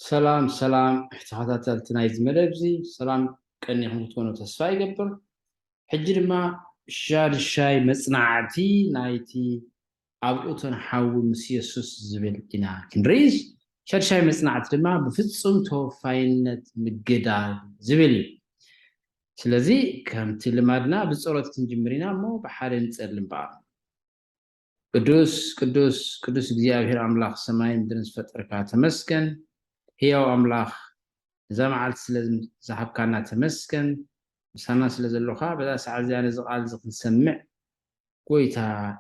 ሰላም ሰላም ተኸታተልቲ ናይዚ መደብ እዚ ሰላም ቀኒኹም ክትኮኑ ተስፋ ይገብር ሕጂ ድማ ሻድሻይ መፅናዕቲ ናይቲ ኣብ እቶን ሓዊ ምስ የሱስ ዝብል ኢና ክንርኢ ሻድሻይ መፅናዕቲ ድማ ብፍፁም ተወፋይነት ምግዳል ዝብል እዩ ስለዚ ከምቲ ልማድና ብፀሎት ክንጅምር ኢና እሞ ብሓደ ንፀሊ እምበኣር ቅዱስ ቅዱስ ቅዱስ እግዚኣብሔር ኣምላኽ ሰማይን ምድርን ዝፈጠርካ ተመስገን ህያው ኣምላኽ እዛ መዓልቲ ስለ ዝሃብካና ተመስገን ምሳና ስለ ዘሎኻ በዛ ሰዓት እዚኣ ነዚ ቃል እዚ ክንሰምዕ ጎይታ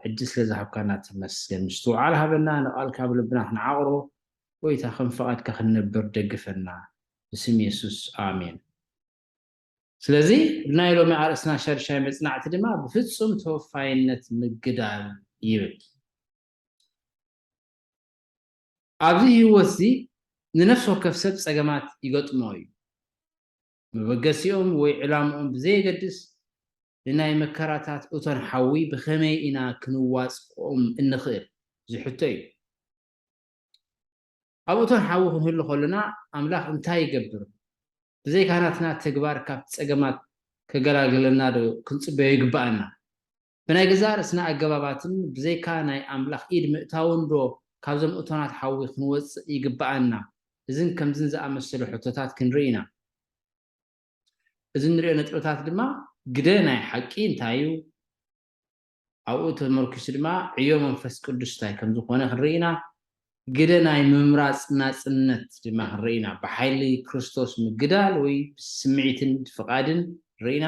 ዕድል ስለ ዝሃብካና ተመስገን ምስትውዓል ሃበና ንቓልካ ብልብና ክንዓቕሮ ጎይታ ከም ፍቓድካ ክንነብር ደግፈና ብስም የሱስ ኣሜን ስለዚ ብናይ ሎሚ ኣርእስትና ሻድሻይ መጽናዕቲ ድማ ብፍጹም ተወፋይነት ምግዳል ይብል። ኣብዚ ህይወት እዚ ንነፍሲ ወከፍ ሰብ ጸገማት ይገጥሞ እዩ። መበገሲኦም ወይ ዕላምኦም ብዘየገድስ ንናይ መከራታት እቶን ሓዊ ብኸመይ ኢና ክንዋጽኦም እንኽእል ዝሕቶ እዩ። ኣብ እቶን ሓዊ ክንህሉ ከሎና ኣምላኽ እንታይ ይገብር? ብዘይካ ናትና ተግባር ካብቲ ጸገማት ከገላግለናዶ ክንጽበዮ ይግብኣና? ብናይ ገዛእ ርእስና ኣገባባትን ብዘይካ ናይ ኣምላኽ ኢድ ምእታውንዶ ካብዞም እቶናት ሓዊ ክንወጽእ ይግብኣና? እዝን ከምዝን ዝኣመሰሉ ሕቶታት ክንርኢ ኢና። እዚ እንርእዮ ነጥብታት ድማ ግደ ናይ ሓቂ እንታይ'ዩ? ኣብኡ ተመርኲሱ ድማ ዕዮ መንፈስ ቅዱስ እንታይ ከም ዝዀነ ክንርኢ ኢና፣ ግደ ናይ ምምራጽ ናጽነት ድማ ክንርኢ ኢና፣ ብሓይሊ ክርስቶስ ምግዳል ወይ ብስምዒትን ፍቓድን ንርኢ ኢና።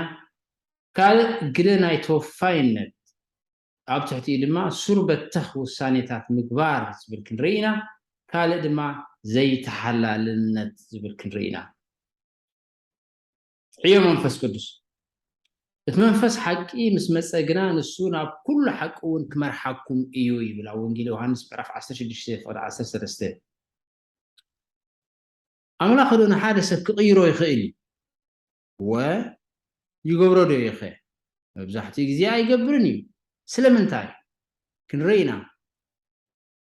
ካልእ ግደ ናይ ተወፋይነት፣ ኣብ ትሕቲኡ ድማ ሱር በተኽ ውሳኔታት ምግባር ዝብል ክንርኢ ኢና፣ ካልእ ድማ ዘይተሓላልነት ዝብል ክንርኢ ኢና። ዕዮ መንፈስ ቅዱስ እቲ መንፈስ ሓቂ ምስ መጸ ግና ንሱ ናብ ኩሉ ሓቂ እውን ክመርሓኩም እዩ ይብል ኣብ ወንጌል ዮሃንስ ምዕራፍ 16 ፍቕዲ 13 ኣምላኽ ዶ ንሓደ ሰብ ክቕይሮ ይኽእል እዩ ወ ይገብሮ ዶ ይኸ መብዛሕትኡ ግዜ ኣይገብርን እዩ ስለምንታይ ክንረኢና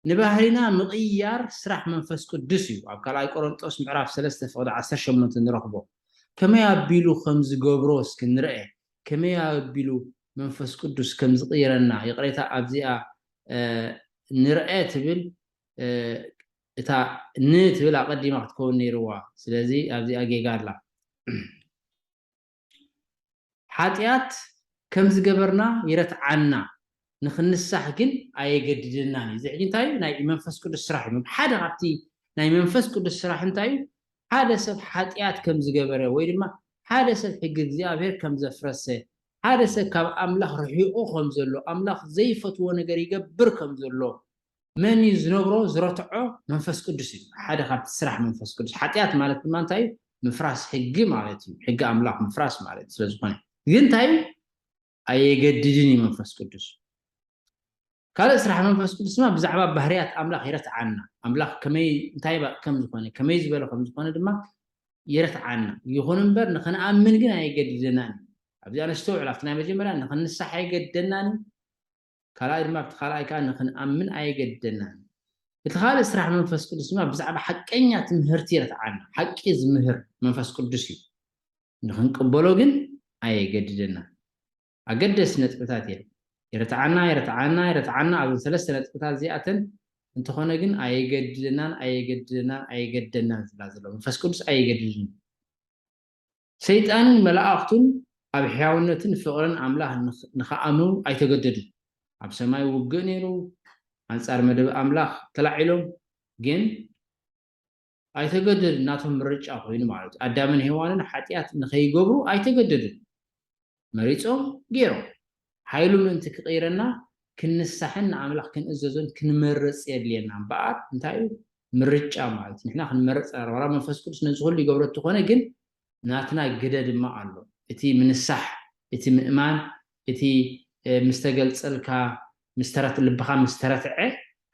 ንባህሪና ምቕያር ስራሕ መንፈስ ቅዱስ እዩ ኣብ ካልኣይ ቆረንጦስ ምዕራፍ ሰለስተ ፍቕዲ ዓሰርተ ሸሞንተ ንረኽቦ ከመይ ኣቢሉ ከም ዝገብሮ እስኪ ንርኣ ከመይ ኣቢሉ መንፈስ ቅዱስ ከም ዝቕይረና ይቕሬታ ኣብዚኣ ንርኣ ትብል እታ ን ትብል ኣቐዲማ ክትከውን ነይርዋ ስለዚ ኣብዚኣ ጌጋ ኣላ። ሓጥያት ከም ዝገበርና ይረትዓና ንክንሳሕ ግን ኣየገድደናን እዩ እዚ ሕጂ እንታይ እዩ ናይ መንፈስ ቅዱስ ስራሕ እዩ ሓደ ካብቲ ናይ መንፈስ ቅዱስ ስራሕ እንታይ እዩ ሓደ ሰብ ሓጥያት ከም ዝገበረ ወይ ድማ ሓደ ሰብ ሕጊ እግዚኣብሔር ከም ዘፍረሰ ሓደ ሰብ ካብ ኣምላኽ ርሒቁ ከም ዘሎ ኣምላኽ ዘይፈትዎ ነገር ይገብር ከም ዘሎ መን እዩ ዝነብሮ ዝረትዖ መንፈስ ቅዱስ እዩ ሓደ ካብቲ ስራሕ መንፈስ ቅዱስ ሓጢኣት ማለት ድማ እንታይ እዩ ምፍራስ ሕጊ ማለት እዩ ሕጊ ኣምላኽ ምፍራስ ማለት ስለ ዝኾነ ግን እንታይ እዩ ኣየገድድን እዩ መንፈስ ቅዱስ ካልእ ስራሕ መንፈስ ቅዱስ ድማ ብዛዕባ ባህርያት ኣምላኽ ይረትዓና ኣምላኽ ከመይ እንታይ ከም ዝኾነ ከመይ ዝበለ ከም ዝኾነ ድማ ይረትዓና ይኹን እምበር ንክንኣምን ግን ኣይገድደናን ኣብዚኣ ነስተውዕል ኣብቲ ናይ መጀመርያ ንክንሳሕ ኣይገድደናን ካልኣይ ድማ ኣብቲ ካልኣይ ከኣ ንኽንኣምን ኣየገድደናን። እቲ ካልእ ስራሕ መንፈስ ቅዱስ ድማ ብዛዕባ ሓቀኛ ትምህርቲ የረትዓና። ሓቂ ዝምህር መንፈስ ቅዱስ እዩ። ንኽንቅበሎ ግን ኣየገድደናን። ኣገደስቲ ነጥብታት እየን። የረትዓና የረትዓና የረትዓና ኣብዘን ሰለስተ ነጥብታት እዚኣተን እንተኾነ ግን ኣየገድደናን ኣየገድደናን ኣየገድደናን ዝብላ ዘሎ መንፈስ ቅዱስ ኣየገድድን እዩ። ሰይጣንን መላእኽቱን ኣብ ሕያውነትን ፍቕርን ኣምላኽ ንኽኣምኑ ኣይተገደዱን። ኣብ ሰማይ ውግእ ነይሩ፣ ኣንጻር መደብ ኣምላኽ ተላዒሎም፣ ግን ኣይተገደዱን፣ ናቶም ምርጫ ዀይኑ ማለት እዩ። ኣዳምን ሄዋንን ሓጢኣት ንኸይገብሩ ኣይተገደዱን። መሪጾም ጌሮም። ሓይሉ ምእንቲ ክቕይረና ክንሳሕን ንኣምላኽ ክንእዘዞን ክንመርጽ የድልየና እምበኣር እንታይ እዩ ምርጫ ማለት ንሕና ክንመርጽ ኣለና ዋላ መንፈስ ቅዱስ ነዚ ኩሉ ይገብሮ እንተኾነ ግን ናትና ግደ ድማ ኣሎ እቲ ምንሳሕ እቲ ምእማን እቲ ምስ ተገልጸልካ ምስ ተረት ልብኻ ምስ ተረትዐ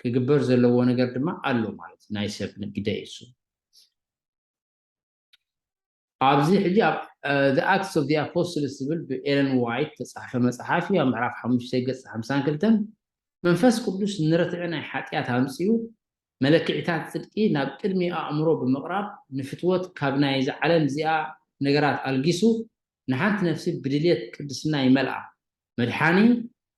ክግበር ዘለዎ ነገር ድማ ኣሎ ማለት ናይ ሰብ ግደ እዩ እሱ ኣብዚ ሕጂ ኣብ The Acts of the Apostles ዝብል ብኤለን ዋይት እተጻሕፈ መጽሓፍ እዩ፣ ኣብ ምዕራፍ ሓሙሽተ ገጽ ሓምሳን ክልተን፣ መንፈስ ቅዱስ ንርትዒ ናይ ሓጢኣት ኣምጺኡ፣ መለክዒታት ጽድቂ ናብ ቅድሚ ኣእምሮ ብምቕራብ፣ ንፍትወት ካብ ናይዛ ዓለም እዚኣ ነገራት ኣልጊሱ፣ ንሓንቲ ነፍሲ ብድልየት ቅድስና ይመልኣ። መድሓኒ፣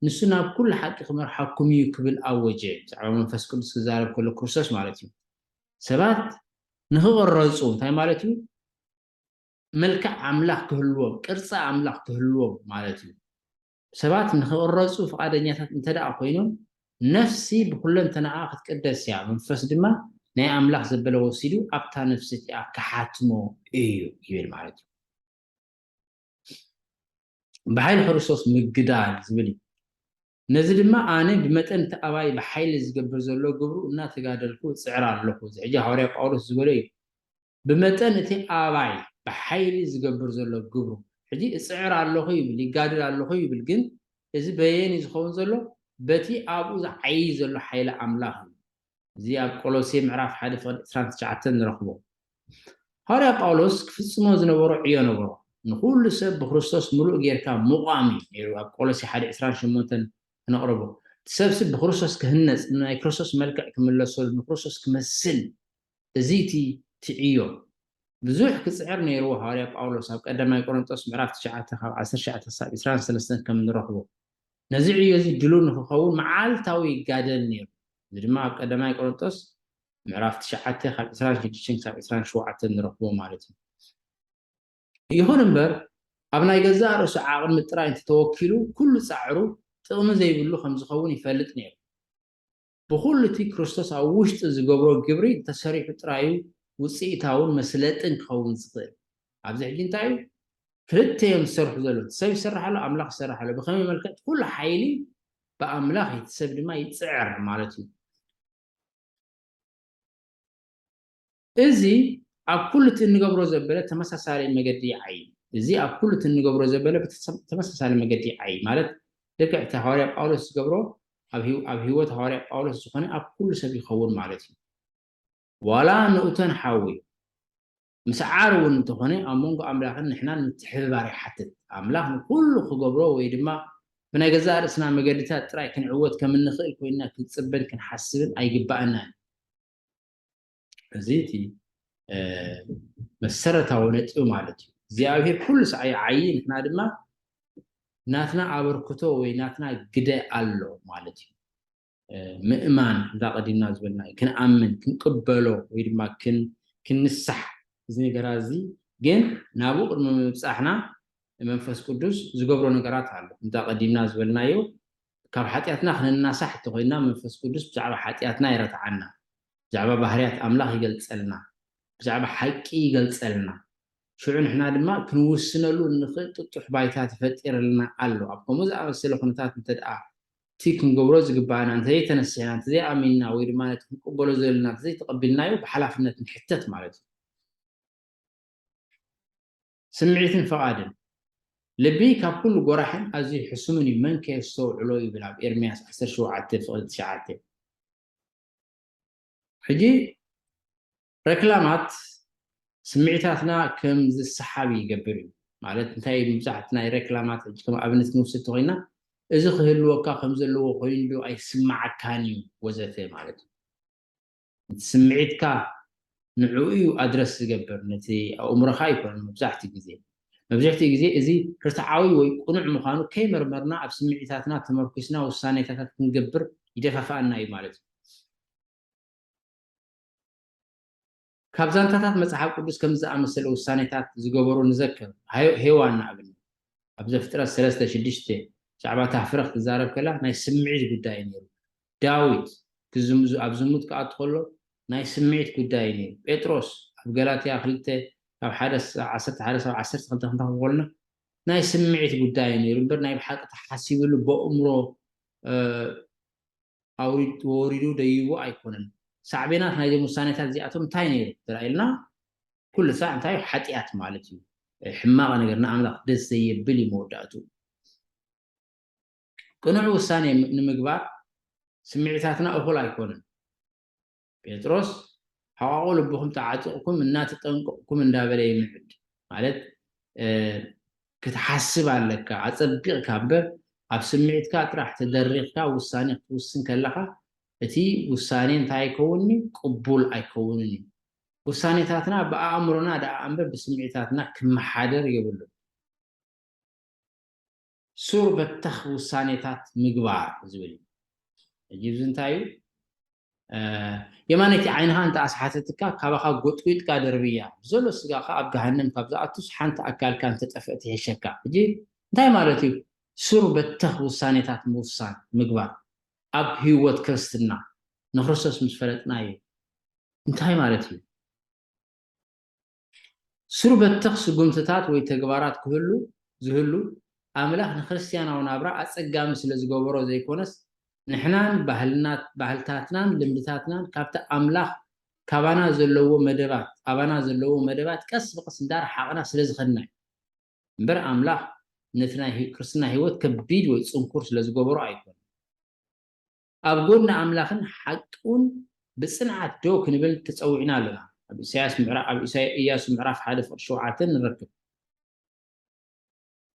ንሱ ናብ ኩሉ ሓቂ ክመርሓኩም እዩ ክብል ኣወጀ፣ ብዛዕባ መንፈስ ቅዱስ ክዛረብ ከሎ ክርስቶስ ማለት እዩ። ሰባት ንኽቕረፁ እንታይ ማለት እዩ? መልክዕ ኣምላኽ ክህልዎም፣ ቅርፂ ኣምላኽ ክህልዎም ማለት እዩ። ሰባት ንኽቕረፁ ፍቓደኛታት እንተድኣ ኮይኖም፣ ነፍሲ ብኹለንተናኣ ክትቅደስ እያ፣ መንፈስ ድማ ናይ ኣምላኽ ዘበለ ወሲዱ ኣብታ ነፍሲ እቲኣ ክሓትሞ እዩ ይብል ማለት እዩ። ብሓይሊ ክርስቶስ ምግዳል ዝብል እዩ። ነዚ ድማ ኣነ ብመጠን እቲ ኣባይ ብሓይሊ ዝገብር ዘሎ ግብሩ እናተጋደልኩ እጽዕር ኣሎኹ። እዚ ሕጂ ሃዋርያ ጳውሎስ ዝበሎ እዩ። ብመጠን እቲ ኣባይ ብሓይሊ ዝገብር ዘሎ ግብሩ። ሕጂ እጽዕር ኣሎኹ ይብል፣ ይጋደል ኣሎኹ ይብል፣ ግን እዚ በየን እዩ ዝኸውን ዘሎ? በቲ ኣብኡ ዝዓዪ ዘሎ ሓይሊ ኣምላኽ እዩ። እዚ ኣብ ቆሎሴ ምዕራፍ ሓደ ፍቕዲ ዕስራን ትሽዓተን ንረኽቦ። ሃዋርያ ጳውሎስ ክፍጽሞ ዝነበሮ ዕዮ ነበሮ። ንኹሉ ሰብ ብክርስቶስ ምሉእ ጌርካ ምቛም እዩ ነይሩ ኣብ ቆሎሴ ሓደ ዕስራን ሸሞንተን ክነቕርቦ። እቲ ሰብሲ ብክርስቶስ ክህነጽ፣ ንናይ ክርስቶስ መልክዕ ክምለሰሉ፣ ንክርስቶስ ክመስል እዚ እቲ እቲ ዕዮ። ብዙሕ ክጽዕር ነይርዎ ሃዋርያ ጳውሎስ ኣብ ቀዳማይ ቆሮንጦስ ምዕራፍ ትሽዓተ ካብ ዓሰርተ ትሽዓተ ክሳብ ዕስራን ሰለስተን ከም ንረኽቦ። ነዚ ዕዮ እዚ ድሉው ንክኸውን መዓልታዊ ይጋደል ነይሩ። እዚ ድማ ኣብ ቀዳማይ ቆሮንጦስ ምዕራፍ ትሽዓተ ካብ ዕስራን ሽዱሽተን ክሳብ ዕስራን ሸውዓተን ንረኽቦ ማለት እዩ። ይኹን እምበር ኣብ ናይ ገዛእ ርእሱ ዓቕሚ ጥራይ እንተተወኪሉ ኩሉ ጻዕሩ ጥቕሚ ዘይብሉ ከም ዝኸውን ይፈልጥ ነይሩ። ብኹሉ እቲ ክርስቶስ ኣብ ውሽጡ ዝገብሮ ግብሪ እንተሰሪሑ ጥራይ እዩ ውጽኢታውን መስለጥን ክኸውን ዝኽእል። ኣብዚ ሕጂ እንታይ እዩ ክልተ እዮም ዝሰርሑ ዘለዉ፣ እቲ ሰብ ይሰርሕ ኣሎ፣ ኣምላኽ ይሰርሕ ኣሎ። ብኸመይ መልክዕ? እቲ ኩሉ ሓይሊ ብኣምላኽ እቲ ሰብ ድማ ይጽዕር ማለት እዩ። እዚ ኣብ ኩሉ እቲ እንገብሮ ዘበለ ተመሳሳሊ መገዲ ይዓዪ። እዚ ኣብ ኩሉ እቲ እንገብሮ ዘበለ ተመሳሳሊ መገዲ ይዓዪ ማለት ልክዕ እቲ ሃዋርያ ጳውሎስ ዝገብሮ ኣብ ህይወት ሃዋርያ ጳውሎስ ዝኾነ ኣብ ኩሉ ሰብ ይኸውን ማለት እዩ። ዋላ ንኡተን ሓዊ ምስዓር እውን እንተኾነ ኣብ መንጎ ኣምላኽን ንሕናን ምትሕብባር ይሓትት። ኣምላኽ ንኹሉ ክገብሮ ወይ ድማ ብናይ ገዛእ ርእስና መገድታት ጥራይ ክንዕወት ከም እንኽእል ኮይንና ክንጽበን ክንሓስብን ኣይግባእናን። እዚ እቲ መሰረታዊ ነጥቢ ማለት እዩ። እግዚኣብሔር ኩሉ ሰዓይ ይዓዪ፣ ንሕና ድማ ናትና ኣበርክቶ ወይ ናትና ግደ ኣሎ ማለት እዩ። ምእማን እዛ ቀዲምና ዝበልና እዩ ክንኣምን ክንቅበሎ ወይ ድማ ክንሳሕ እዚ ነገራት እዚ ግን ናብኡ ቅድሚ ምብፃሕና መንፈስ ቅዱስ ዝገብሮ ነገራት ኣሎ እንታ ቀዲምና ዝበልናዮ ካብ ሓጢኣትና ክንናሳሕ እተኮይንና መንፈስ ቅዱስ ብዛዕባ ሓጢኣትና ይረትዓና ብዛዕባ ባህርያት ኣምላኽ ይገልፀልና ብዛዕባ ሓቂ ይገልፀልና ሽዑ ንሕና ድማ ክንውስነሉ እንኽእል ጥጡሕ ባይታ ተፈጢረልና ኣሎ ኣብ ከምኡ ዝኣመሰለ ኩነታት እንተደኣ እቲ ክንገብሮ ዝግብኣና እንተዘይተነሲሕና፣ እንተዘይኣሚንና ወይ ድማ ነቲ ክንቅበሎ ዘለና እንተዘይተቐቢልናዮ ብሓላፍነት ንሕተት ማለት እዩ። ስምዒትን ፍቓድን፣ ልቢ ካብ ኩሉ ጎራሕን ኣዝዩ ሕሱምን እዩ፣ መንከ የስተውዕሎ ይብል ኣብ ኤርምያስ ዓሰርተ ሸውዓተ ፍቕዲ ትሽዓተ። ሕጂ ረክላማት ስምዒታትና ከም ዝሰሓብ ይገብር እዩ። ማለት እንታይ ምብዛሕት ናይ ረክላማት ሕጂ ከም ኣብነት ክንውስድ ተኾይና እዚ ክህልወካ ከም ዘለዎ ኮይኑ ዶ ኣይስማዓካን እዩ ወዘተ ማለት እዩ። እቲ ስምዒትካ ንዕኡ እዩ ኣድረስ ዝገብር ነቲ ኣእምሮኻ ኣይኮነን መብዛሕትኡ ግዜ። መብዝሕትኡ ግዜ እዚ ርትዓዊ ወይ ቅኑዕ ምዃኑ ከይመርመርና ኣብ ስምዒታትና ተመርኲስና ውሳኔታታት ክንገብር ይደፋፍኣና እዩ ማለት እዩ። ካብ ዛንታታት መጽሓፍ ቅዱስ ከምዚ ዝኣመሰለ ውሳኔታት ዝገበሩ ንዘከር። ሄዋን ንኣብነት ኣብ ዘፍጥረት ሰለስተ ሽዱሽተ ብዛዕባ እታ ፍረ ክትዛረብ ከላ ናይ ስምዒት ጉዳይ እዩ ነይሩ። ዳዊት ክዝም ኣብ ዝሙት ክኣቱ ከሎ ናይ ስምዒት ጉዳይ እዩ ነይሩ። ጴጥሮስ ኣብ ገላትያ ክልተ ካብ ሓደ ክሳብ ዓሰርተ ሓደ ክሳብ ዓሰርተ ክልተ ክንረኽቦ ከሎና ናይ ስምዒት ጉዳይ እዩ ነይሩ እምበር ናይ ብሓቂ ተሓሲብሉ በእምሮ ኣውሪዱ ተወሪዱ ደይቡ ኣይኮነን። ሳዕቤናት ናይዞም ውሳኔታት እዚኣቶም እንታይ ነይሩ እንተኢልና ኩሉ ሳዕ እንታይ እዩ ሓጥያት ማለት እዩ ሕማቕ ነገር ንኣምላኽ ደስ ዘየብል እዩ መወዳእትኡ። ቅኑዕ ውሳኔ ንምግባር ስምዒታትና እኹል ኣይኮነን። ጴጥሮስ ሕቛቝ ልብኹም ተዓጢቕኩም እና ተጠንቅቕኩም እንዳበለ ይምዕድ ማለት ክትሓስብ ኣለካ ኣጸቢቕካ እምበር ኣብ ስምዒትካ ጥራሕ ተደሪኽካ ውሳኔ ክትውስን ከለኻ እቲ ውሳኔ እንታይ ኣይከውንን እዩ ቅቡል ኣይከውንን እዩ ውሳኔታትና ብኣእምሮና ደኣ እምበር ብስምዒታትና ክመሓደር የብሉን ሱር በተኽ ውሳኔታት ምግባር ዝብል እዩ። ሕጂ እዚ እንታይ እዩ? የማነይቲ ዓይንኻ እንተ ኣስሓተትካ፣ ካባኻ ጎጥጒጥካ ደርብያ፣ ብዘሎ ስጋኻ ኣብ ገሃነም ካብ ዝኣቱስ ሓንቲ ኣካልካ እንተ ጠፍእት ይሕሸካ። ሕጂ እንታይ ማለት እዩ? ሱር በተኽ ውሳኔታት ምውሳን፣ ምግባር፣ ኣብ ህይወት ክርስትና ንክርስቶስ ምስ ፈለጥና እዩ። እንታይ ማለት እዩ? ሱር-በተኽ ስጉምትታት ወይ ተግባራት ክህሉ ዝህሉ፣ ኣምላኽ ንክርስትያናዊ ናብራ ኣጸጋሚ ስለ ዝገበሮ ዘይኮነስ፣ ንሕናን ባህልና ባህልታትናን ልምድታትናን ካብቲ ኣምላኽ ካባና ዘለዎ መደባት ኣባና ዘለዎ መደባት ቀስ ብቐስ እንዳረሓቕና ስለ ዝኸድና እዩ እምበር ኣምላኽ ነቲ ናይ ክርስትና ህይወት ከቢድ ወይ ጽንኩር ስለ ዝገበሮ ኣይኮነን። ኣብ ጎድኒ ኣምላኽን ሓቂውን ብጽንዓት ደው ክንብል ተጸዊዕና ኣሎና። ኣብ ኢሳያስ ምዕራ ኣብ ኢሳይ ኢያሱ ምዕራፍ ሓደ ፍቕዲ ሸውዓተ ንረክብ።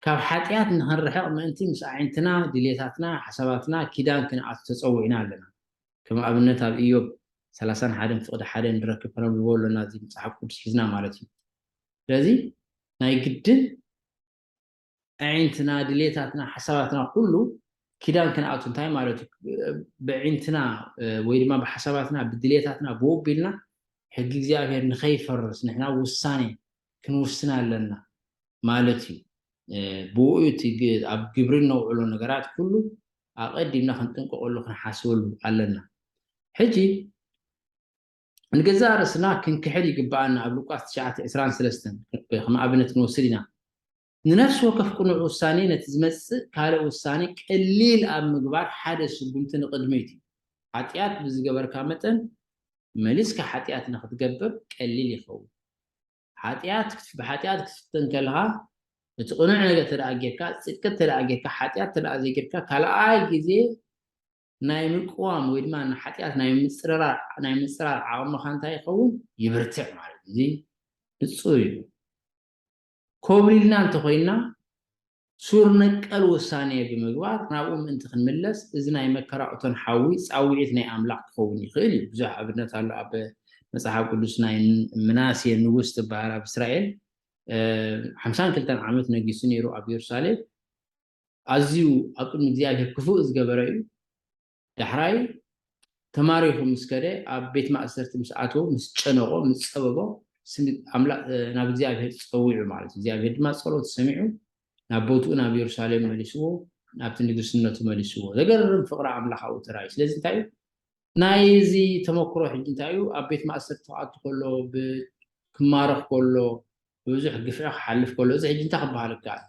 ካብ ሓጢኣት ንኽንርሕቕ ምእንቲ ምስ ኣዒንትና፣ ድልየታትና፣ ሓሳባትና ኪዳን ክንኣቱ ተጸዊዕና ኣሎና። ከም ኣብነት ኣብ ኢዮብ ሰላሳን ሓደን ፍቕዲ ሓደ ንረክብ ከነንብቦ ኣሎና እዚ ምጽሓፍ ቅዱስ ሒዝና ማለት እዩ። ስለዚ ናይ ግድን ኣዒንትና ድሌታትና ሓሳባትና ኩሉ ኪዳን ክንኣቱ እንታይ ማለት እዩ ብዒንትና ወይ ድማ ብሓሳባትና ብድሌታትና ብወቢልና ሕጊ እግዚኣብሔር ንኸይፈርስ ንሕና ውሳኔ ክንውስን ኣለና ማለት እዩ ብኡ እቲ ኣብ ግብሪ እነውዕሎ ነገራት ኩሉ ኣቐዲምና ክንጥንቀቐሉ ክንሓስበሉ ኣለና ሕጂ ንገዛእ ርእስና ክንክሕድ ይግብኣና ኣብ ሉቃስ ትሽዓተ ዕስራን ሰለስተን ከም ኣብነት ክንወስድ ኢና። ንነፍሲ ወከፍ ቅኑዕ ውሳኔ ነቲ ዝመጽእ ካልእ ውሳኔ ቀሊል ኣብ ምግባር ሓደ ስጉምቲ ንቕድሚት እዩ። ሓጢኣት ብዝገበርካ መጠን መሊስካ ሓጢኣት ንኽትገብር ቀሊል ይኸውን። ሓጢኣት ብሓጢኣት ክትፍተን ከለኻ እቲ ቅኑዕ ነገር ተደኣ ጌርካ ጽድቂ ተደኣ ጌርካ ሓጢኣት ተደኣ ዘይጌርካ ካልኣይ ግዜ ናይ ምቅዋም ወይ ድማ ንሓጢኣት ናይ ምጽርራር ናይ ምጽራር ዓቕምኻ እንታይ ይኸውን ይብርትዕ ማለት እዩ። እዚ ንጹር እዩ። ኮብሊልና እንተኾይንና ሱር ነቀል ውሳኔ ብምግባር ናብኡ ምእንቲ ክንምለስ እዚ ናይ መከራ እቶን ሓዊ ጻውዒት ናይ ኣምላኽ ክኸውን ይኽእል እዩ። ብዙሕ ኣብነት ኣሎ ኣብ መጽሓፍ ቅዱስ ናይ ምናሴ ንጉስ ትበሃል ኣብ እስራኤል ሓምሳን ክልተን ዓመት ነጊሱ ነይሩ ኣብ የሩሳሌም ኣዝዩ ኣብ ቅድሚ እግዚኣብሄር ክፉእ ዝገበረ እዩ። ዳሕራይ ተማሪኹ ምስ ከደ ኣብ ቤት ማእሰርቲ ምስ ኣተወ ምስ ጨነቖ ምስ ጸበቦ ስም ኣምላ ናብ እግዚኣብሄር ጸዊዑ ማለት እዩ። እግዚኣብሄር ድማ ጸሎቱ ሰሚዑ ናብ ቦትኡ ናብ የሩሳሌም መሊስዎ ናብቲ ንግስነቱ መሊስዎ። ዘገርም ፍቕሪ ኣምላኻዊ ተራእዩ። ስለዚ እንታይ እዩ ናይዚ ተመክሮ ሕጂ እንታይ እዩ ኣብ ቤት ማእሰርቲ ክኣቱ ከሎ ብ ክማረኽ ከሎ ብብዙሕ ግፍዒ ክሓልፍ ከሎ እዚ ሕጂ እንታይ ክበሃል ይከኣል?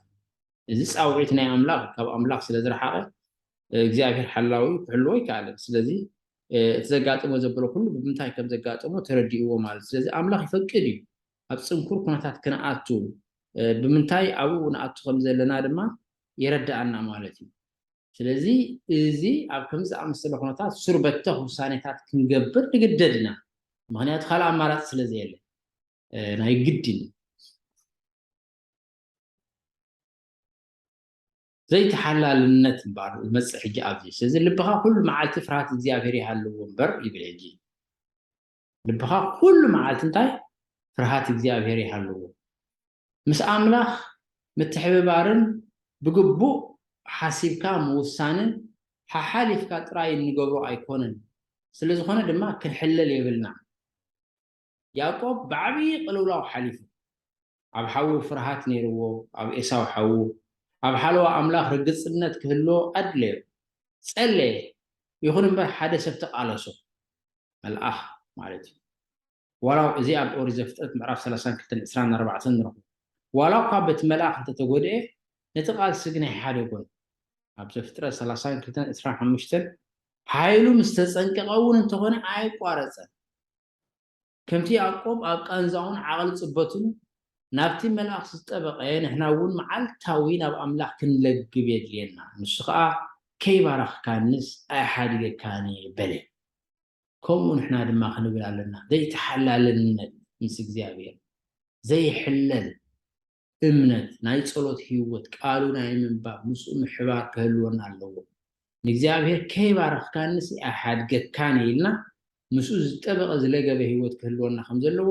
እዚ ጻውዒት ናይ ኣምላኽ ካብ ኣምላኽ ስለ ዝረሓቐ እግዚኣብሔር ሓላዊኡ ክሕልዎ ኣይከኣለን። ስለዚ እቲ ዘጋጠሞ ዘበሎ ኩሉ ብምንታይ ከም ዘጋጠሞ ተረዲእዎ ማለት ስለዚ ኣምላኽ ይፈቅድ እዩ ኣብ ጽንኩር ኩነታት ክንኣቱ ብምንታይ ኣብኡ ንኣቱ ከም ዘለና ድማ የረዳኣና ማለት እዩ። ስለዚ እዚ ኣብ ከምዚ ዝኣመሰለ ኩነታት ሱር በተኽ ውሳኔታት ክንገብር ንግደድ ኢና ምክንያቱ ካልእ ኣማራጺ ስለ ዘየለ ናይ ግድን ዘይተሓላልነት እምበኣር ዝመጽእ ሕጂ ኣብዚ ስለዚ ልብኻ ኩሉ መዓልቲ ፍርሃት እግዚኣብሔር ይሃልዎ እምበር ይብል ሕጂ ልብኻ ኩሉ መዓልቲ እንታይ ፍርሃት እግዚኣብሔር ይሃልዎ ምስ ኣምላኽ ምትሕብባርን ብግቡእ ሓሲብካ ምውሳንን ሓሓሊፍካ ጥራይ እንገብሮ ኣይኮነን ስለ ዝኾነ ድማ ክንሕለል የብልና ያእቆብ ብዓብዪ ቅልውላው ሓሊፉ። ኣብ ሓዉ ፍርሃት ነይርዎ፣ ኣብ ኤሳው ሓዉ። ኣብ ሓለዋ ኣምላኽ ርግጽነት ክህልዎ ኣድለዮ። ጸለየ፣ ይኹን እምበር ሓደ ሰብ ተቓለሶ። መልኣኽ ማለት እዩ። ዋላው እዚ ኣብ ኦሪት ዘፍጥረት ምዕራፍ ሰላሳን ክልተን ዕስራን ኣርባዕተን ንረኽቦ። ዋላኳ በቲ መልኣኽ እንተ ተጎድኤ፣ ነቲ ቃልሲ ግን ኣይሓደጎን። ኣብ ዘፍጥረት ሰላሳን ክልተን ዕስራን ሓሙሽተን ሓይሉ ምስ ተጸንቀቐ እውን እንተኾነ ኣየቋረጸን። ከምቲ ያእቆብ ኣብ ቃንዛኡን ዓቕሊ ጽበቱን ናብቲ መልኣኽ ዝጠበቐ፣ ንሕና እውን መዓልታዊ ናብ ኣምላኽ ክንለግብ የድልየና። ንሱ ኸኣ ከይባረኽካንስ ኣይሓድገካን እየ በለ። ከምኡ ንሕና ድማ ክንብል ኣለና። ዘይተሓላልነት ምስ እግዚኣብሔር ዘይሕለል እምነት፣ ናይ ጸሎት ህይወት፣ ቃሉ ናይ ምንባብ፣ ምስኡ ምሕባር ክህልወና ኣለዎ። ንእግዚኣብሔር ከይባረኽካኒሲ ኣይሓድገካን እየ ኢልና ምስኡ ዝጠበቐ ዝለገበ ህይወት ክህልወና ከም ዘለዎ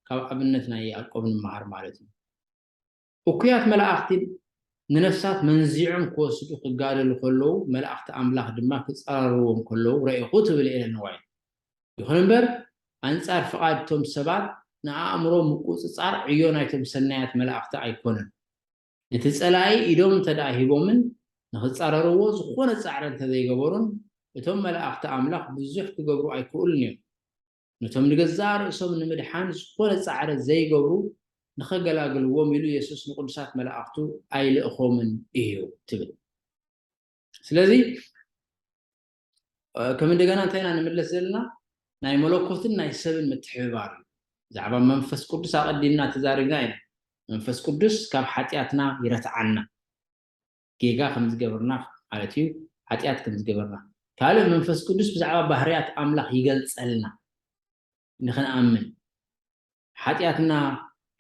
ካብ ኣብነት ናይ ያእቆብ ንመሃር ማለት እዩ። እኩያት መላእኽቲን ንነፍሳት መንዚዖም ክወስዱ ክጋደሉ ከለዉ መላእኽቲ ኣምላኽ ድማ ክጸራርዎም ከለዉ ረኤኹ ትብል ኤለን ዋይት። ይኹን እምበር፣ ኣንጻር ፍቓድ እቶም ሰባት ንኣእምሮ ምቍጽጻር ዕዮ ናይቶም ሰናያት መላእኽቲ ኣይኰነን። ነቲ ጸላኢ ኢዶም እንተ ደኣ ሂቦምን ንኽጻረርዎ ዝዀነ ጻዕሪ እንተ ዘይገበሩን፣ እቶም መላእኽቲ ኣምላኽ ብዙሕ ክገብሩ ኣይክእሉን ኢዮም። ነቶም ንገዛእ ርእሶም ንምድሓን ዝዀነ ጻዕሪ ዘይገብሩ ንኸገላግልዎም ኢሉ የሱስ ንቕዱሳት መላእኽቱ ኣይልእኾምን ኢዩ ትብል። ስለዚ፣ ከም እንደገና እንታይ ኢና ንምለስ ዘለና ናይ መለኮትን ናይ ሰብን ምትሕብባር እዩ ብዛዕባ መንፈስ ቅዱስ ኣቐዲምና ተዛሪብና ኢና መንፈስ ቅዱስ ካብ ሓጢኣትና ይረትዓና ጌጋ ከም ዝገበርና ማለት እዩ ሓጢኣት ከም ዝገበርና ካልእ መንፈስ ቅዱስ ብዛዕባ ባህርያት ኣምላኽ ይገልጸልና ንክንኣምን ሓጢኣትና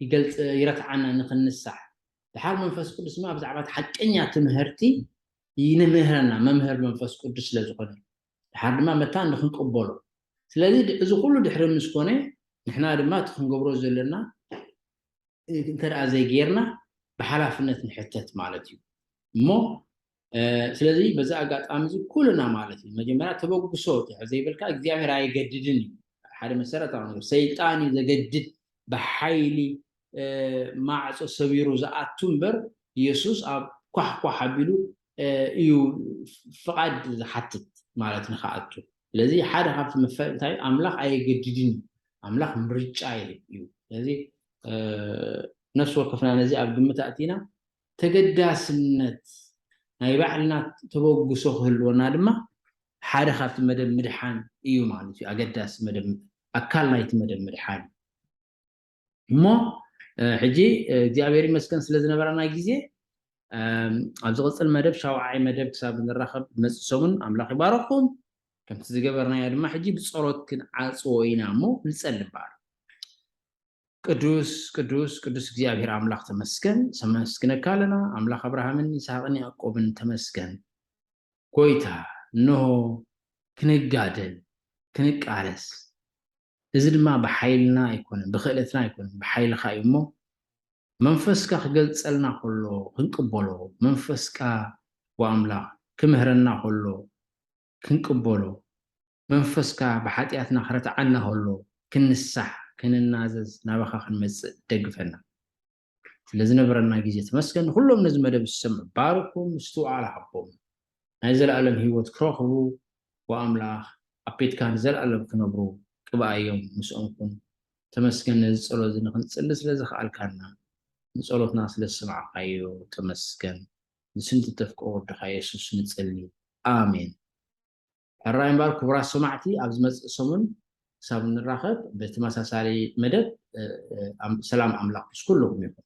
ይገልጽ ይረትዓና ንክንሳሕ ድሓር መንፈስ ቅዱስ ድማ ብዛዕባ እቲ ሓቀኛ ትምህርቲ ይንምህረና መምህር መንፈስ ቅዱስ ስለ ዝኾነ ድሓር ድማ መታን ንክንቅበሎ ስለዚ እዚ ኩሉ ድሕሪ ምስ ኮነ ንሕና ድማ እቲ ክንገብሮ ዘለና እንተ ዘይጌርና ብሓላፍነት ንሕተት ማለት እዩ እሞ ስለዚ በዚ ኣጋጣሚ እዚ ኩልና ማለት እዩ መጀመርያ ተበግሶ ትሕ ዘይብልካ እግዚኣብሔር ኣይገድድን እዩ ሓደ መሰረታዊ ነገር ሰይጣን እዩ ዘገድድ ብሓይሊ ማዕፆ ሰቢሩ ዝኣቱ እምበር ኢየሱስ ኣብ ኳሕኳሕ ኣቢሉ እዩ ፍቓድ ዝሓትት ማለት ንክኣቱ ስለዚ ሓደ ካብቲ መፈል እንታይ ኣምላኽ ኣየገድድን እዩ ኣምላኽ ምርጫ ይህብ እዩ ስለዚ ነፍሲ ወከፍና ነዚ ኣብ ግምት ኣእቲና ተገዳስነት ናይ ባዕልና ተበግሶ ክህልወና ድማ ሓደ ካብቲ መደብ ምድሓን እዩ ማለት እዩ። ኣገዳሲ መደብ ኣካል ናይቲ መደብ ምድሓን እዩ። እሞ ሕጂ እግዚኣብሔር ይመስገን ስለ ዝነበረና ግዜ ኣብ ዝቕፅል መደብ ሻውዓይ መደብ ክሳብ ንራኸብ መፅእ ሰሙን ኣምላኽ ይባረኹም። ከምቲ ዝገበርናዮ ድማ ሕጂ ብፀሎት ክንዓፅዎ ኢና እሞ ንፀሊ እምበኣር ቅዱስ ቅዱስ ቅዱስ እግዚኣብሔር ኣምላኽ ተመስገን ሰመስግነካ ኣለና ኣምላኽ ኣብርሃምን ይስሃቅን ያእቆብን ተመስገን ጎይታ እነሆ ክንጋደል ክንቃለስ እዚ ድማ ብሓይልና ኣይኮነን ብክእለትና ኣይኮነን ብሓይልካ እዩ እሞ መንፈስካ ክገልጸልና ከሎ ክንቅበሎ መንፈስካ ወኣምላኽ ክምህረና ከሎ ክንቅበሎ መንፈስካ ብሓጢኣትና ክረትዓና ከሎ ክንሳሕ ክንናዘዝ ናባካ ክንመጽእ ደግፈና ስለዝነበረና ግዜ ተመስገን ንኩሎም ነዚ መደብ ዝሰምዑ ባርኩም ምስትውዓል ሃቦም ናይ ዘልኣለም ሂወት ክረክቡ ብ ኣምላክ ኣብ ቤትካ ንዘልኣለም ክነብሩ ቅብኣዮም ምስኦም ኩን ተመስገን ነዚ ጸሎት እዚ ንክንጽሊ ስለዘክኣልካና ንጸሎትና ስለዝሰማዕካዮ ተመስገን ንስም ዝተፍቀ ወድካ የሱስ ንጽሊ ኣሜን። ሕራይ እምበር ክቡራት ሰማዕቲ ኣብ ዝመጽእ ሰሙን ክሳብ እንራኸብ ብትመሳሳሊ መደብ ሰላም ኣምላኽ ምስ ኩሉኹም ይኹን።